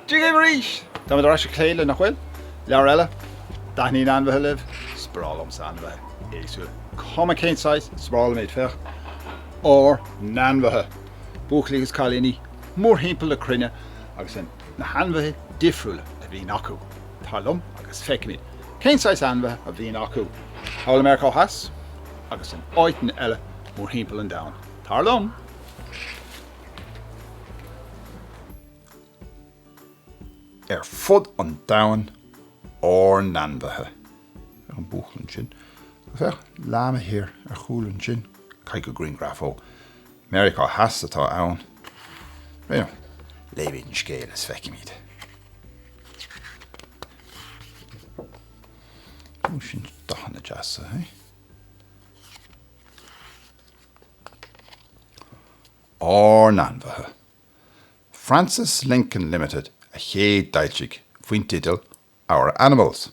Dia dhaoibh arís! Táimid ar ais ag plé le, nach bhfuil? leabhar eile. an dtaitníonn ainmhithe libh? Is breá liom ainmhithe éagsúla. Cuma cén saghas, is breá liom iad. Féach ár n-ainmhithe, a bhuachaillí agus a chailíní, mórthimpeall na cruinne agus in. na hainmhithe difriúla a bhíonn acu, tar liom agus feicfimid cén saghas ainmhithe a bhíonn acu thall i Meiriceá Theas agus in áiteanna eile mórthimpeall an domhain. Tar liom! Ar fud an domhain, ár n-ainmhithe. Féach an buachaill ansin. Féach, leáma thiar ar chúl ansin. Caithfidh gur grianghraf ó. Meiriceá Theas atá ann. Bhuel, léifimid an scéal is feicfimid. Ó, sin dathanna deasa, hé? Ár n-ainmhithe! Frances Lincoln Limited a chéadfhoilsigh faoin teideal Our Animals.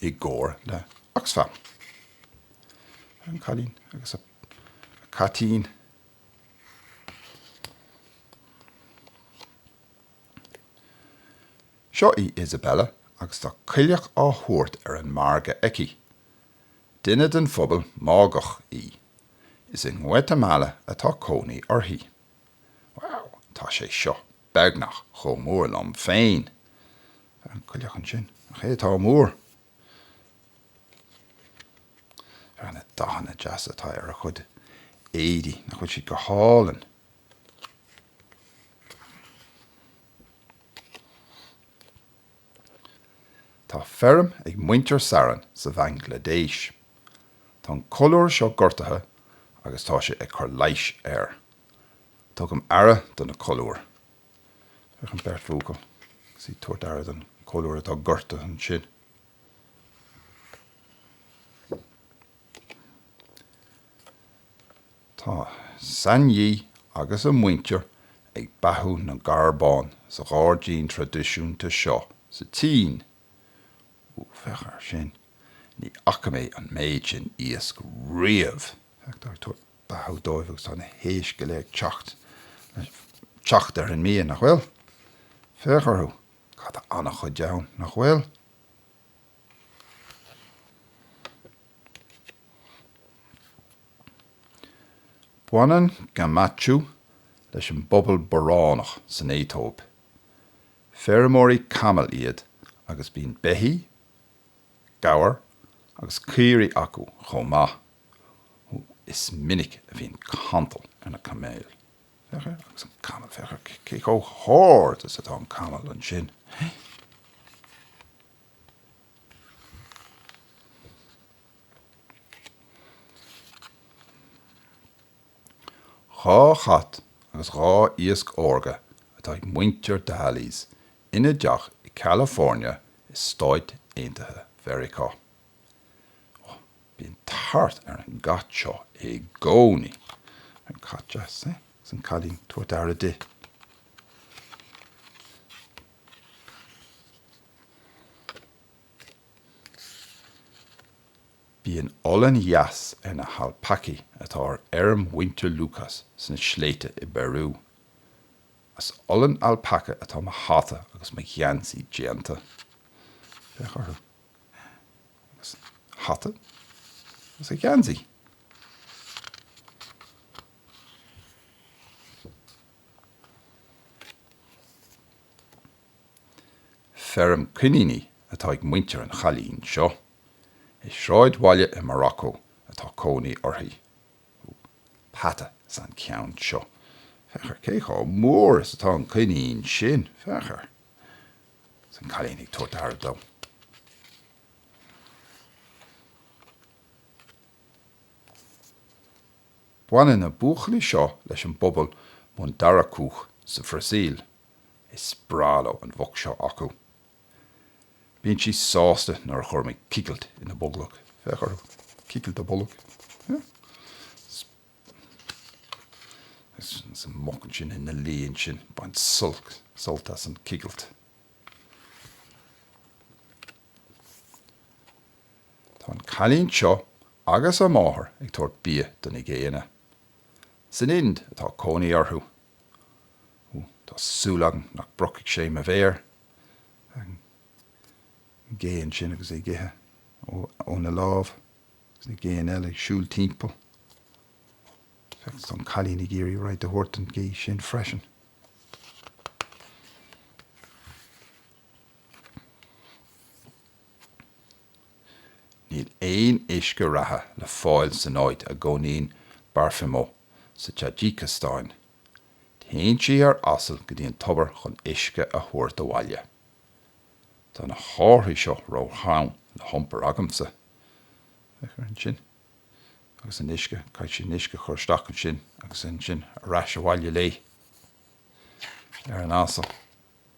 i gcomhar le Oxfam. An Cailín agus a Caitín. Seo í Isabella agus tá coileach á thabhairt ar an margadh aici. Duine den phobal Máigheach í. Is i nGuatamala atá cónaí uirthi. Wow, tá sé seo beagnach chomh mór liom féin! Tá an coileach ansin, nach é atá mór! Ar na dathanna deasa atá ar a chuid éadaí, nach bhfuil siad go hálainn! Tá feirm ag muintir Saran sa Bhanglaidéis. Tá an colúr seo gortaithe agus tá sé ag cur leighis air. Tugaim aire do na colúir. Féach an bheirt bhuachaillí agus iad ag tabhairt aire don cholúr atá gortaithe ansin. Tá San Yi agus a muintir ag beathú na gcarbán sa ghairdín traidisiúnta seo sa tSín. Úúú, féach air sin. Ní fhaca mé an méid sin iasc riamh! Féach, táthar ag tabhairt beathú dóibh agus tá na héisc uile ag teacht le teacht ar an mbia, nach bhfuil? Féach orthu. Tá an-chuid ann, nach bhfuil? Baineann Gamachu leis an bpobal Boránach san Aetóip. Feirmeoirí camall iad agus bíonn beithígh, gabhair agus caoirigh acu chomh maith. Is minic a bhíonn cantal ar na camaill. Féach air agus an camall, féach cé chomh hard is atá an camall ansin. Dhá chat agus dhá iasc órga atá ag muintir Dahlys ina dteach i gCalifornia i Stáit Aontaithe Mheiriceá. Oh, bíonn tart ar an gcat seo i gcónaí. An cat deas, eh? Agus an cailín, tabhairt aire di. Bíonn olann dheas ar na halpacaí atá ar fheirm mhuintir Lucas sna sléibhte i bPeiriú. As olann alpaca atá mo hata agus mo gheansaí déanta. Féach orthu. Agus a hata agus a gheansaí. Feirm coiníní atá ag muintir an chailín seo. I sráidbhaile i Morocco atá cónaí uirthi. Ooh. Peata is ea an ceann seo. Féach air, cé chomh mór is atá an coinín sin. Féach air. Is an cailín ag tabhairt aire dó. Baineann na buachaillí seo leis an bpobal Mundaracúch sa Bhrasaíl. Is breá leo an mhuc seo acu. Bíonn sí sásta nuair a chuirimid cigilt ina bolg. Féach orthu. Cigilt a bolg. Is an muc ansin ina luí ansin. Bain sult as an cigilt. Tá an cailín seo agus a máthair ag tabhairt bia do na géanna. San Ind atá cónaí orthu. Ooh, tá súil agam nach bpriocfaidh sé mo mhéar, an géan sin agus é ag ithe óna lámh agus na géanna eile ag siúl timpeall. Féach, tá an cailín ag iarraidh rud a thabhairt don ghé sin freisin. Níl aon uisce reatha le fáil san áit a gcónaíonn Barfimo sa Taidžíceastáin. Téann sí ar asal go dtí an tobar chun uisce a thabhairt abhaile. Tá na hárthaí seo róthrom le hiompar agamsa. Féach ar ansin. Agus an uisce, caithfidh sí an uisce a chur isteach ansin, agus ansin ar ais abhaile léi ar an asal.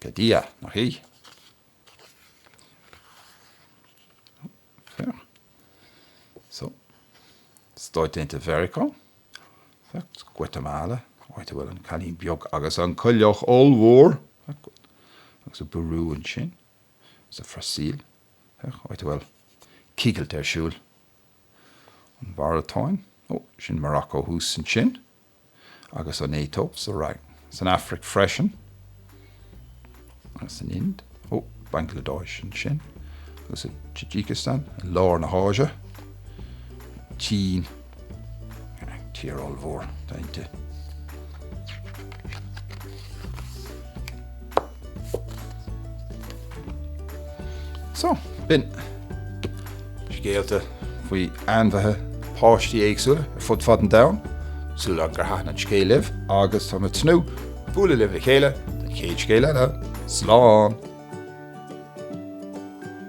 Pé Dia nach í. Féach. So. Stáit Aontaithe Mheiriceá. Féach. Guatemala. Áit a bhfuil an cailín beag agus an coileach ollmhór. Féach. Agus i bPeiriú ansin. Sa Bhrasaíl. Féach. Áit a bhfuil cigilt ar siúl. An Mháratáin. Ó, sin Morocco thuas ansin. agus an Aetóip atá san Afraic freisin agus san Ind, ó, Bangladesh ansin agus i Tajikistan, i lár na hÁise, an tSín, tír ollmhór atá inti. So, b'in scéalta faoi ainmhithe páistí éagsúla ar fud fad an domhain, súil agam gur thaithin an scéal libh agus tá mé ag tnúth le bualadh libh le chéile don chéad scéal eile. Slán!